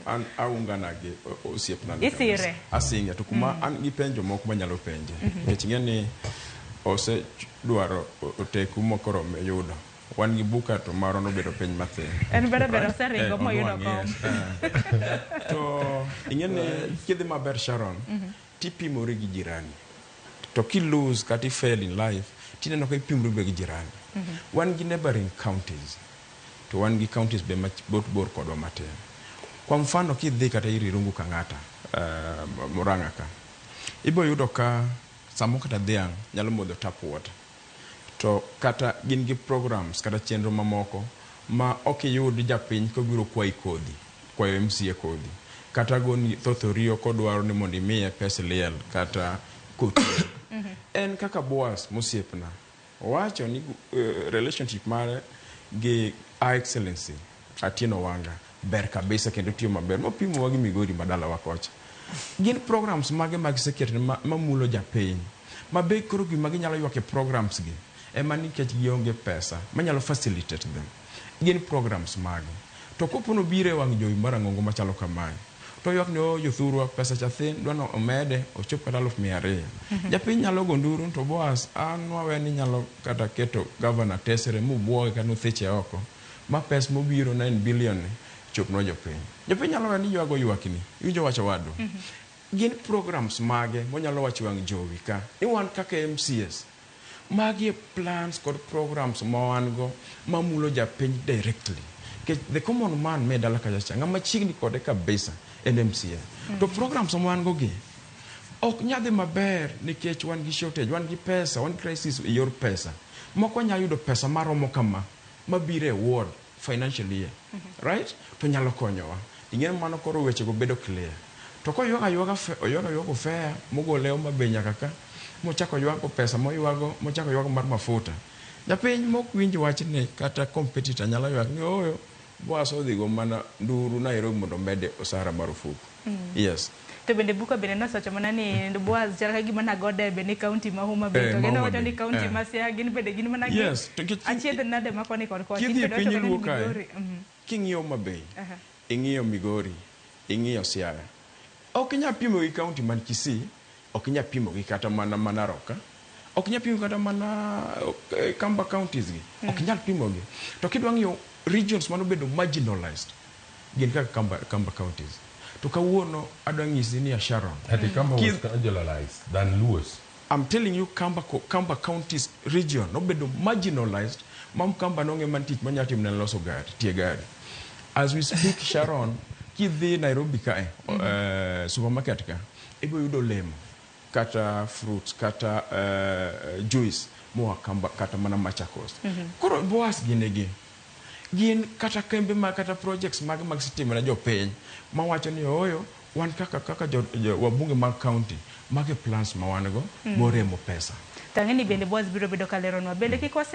an aungana gi osiepna asinge to kuma mm. an gi penjo moko manyalo penje mhm. nikech ing'e ni osedwaro oteku mokoro yudo wan gi buka to marwa nobedo piny mathin en bedo bedo oseringo eh, moyudo kom eh. to ing'e ni kidhi maber sharon mhm. tipimori gi jirani to ki lose kata i fail in life tineno ka ipimori be gi jirani mhm. wan gi neighboring counties to wan gi counties be mabot bor kodwa matin. Kwa mfano kidhi kata ir Irungu Kang'ata, Murang'a ka, ibiro yudo ka samoro kata dhiang' nyalo modho tap water to kata gin gi programs kata chenro mamoko ma ok iyud japiny kobiro kwayi kodhi, kwayo MCA kodhi kata goni thoth oriyo kodwaro ni mondo imiye pes liel kata koti. En kaka Boaz mosiepna. Owacho ni relationship mare gi Her Excellency Atieno Wanga ber kabisa kendo otiyo maber mopimowa gi Migori ma dalawa kocha. Gin programs mage ma giseketo mamulo japiny ma be koro gima ginyalo ywak e programs gi ema nikech gionge pesa manyalo facilitate them. Gin programs mage? To kopo nobiro e wang' jowi marang'ongo machalo kamae, to oywak ni ooh jothurwa, pesa cha thin, dwa ni omede ochop kata aluf mia ariyo. Japiny nyalo go nduru to Boaz an nwawe ni nyalo kata keto Governor tesre mobwoge kata notheche oko ma pes mobiro nine billion ni chopnwa jopiny. Jopiny nyalo we ni ywago ywakni. Iwinjo wach owadwa? Gin programs mage monyalo wacho e wang' jowi ka ni wan kaka MCAs, Magi e plans kod programs ma wan go ma mulo japiny directly. Nikech the common man me dala kacha cha ng'ama chiegni kode kabisa en MCA. To programs ma wan go gi ok nya dhi maber nikech wan gi shortage, wan gi pesa, wan gi crisis e yor pesa. Moko nya yudo pesa maromo kama mabiro e ward. financial year right to nyalo konyowa ing'e mano koro weche go bedo clear to koywak aywaga fe- oywak aywaka ofea mogole oma be nyaka ka mochako oywago pesa moywago mochako oywago mar mafuta japiny mok winj wachni kata competitor nyalo ywak ni ooyo boas odhigo mana nduru Nairobi mondo omede osara marufuku Mm. Yes. To bende buka bende nosewacho mana ni Boaz chal ka gima nago debe ni kaunti ma Homa Bay eh, to gino wacho ni kaunti eh. ma Siaya gin bende gin mana gi yes. achiedh nade ma koni kod kocha kidhi e piny luo kae mm-hmm. king'iyo Homa Bay ing'iyo Migori ing'iyo Siaya ok inyal pimo gi kaunti man Kisii Ok inyal pimo gi kata mana ma Narok ka, ok inyal pimo kata mana Kamba counties gi, ok inyal pimo gi. To kidwa ng'iyo regions mane obedo marginalized gin kaka Kamba, Kamba counties. To kawuono adwa nyisi ni ya Sharon. Ati Kamba was marginalized than Luos. I'm telling you Kamba, Kamba counties region nobedo marginalized ma Mkamba nong'e mana tich monyalo timo ne en loso gari, tie gari. As we speak Sharon, kidhi Nairobi kae, uh, supermarket ka, Ibiro yudo olemo kata fruits kata uh, juice moa kamba, kata mana Machakos. Mm -hmm. Koro Boas gin gi gin kata kembe ma kata projects mag mag sitima na jopiny mawacho ni oyo wan kaka kaka jo, jo, wabunge mag county mage plans ma wan go mm. boremo pesa. Tang'e ni bende Boas biro bedo ka leronwa bende kik wasek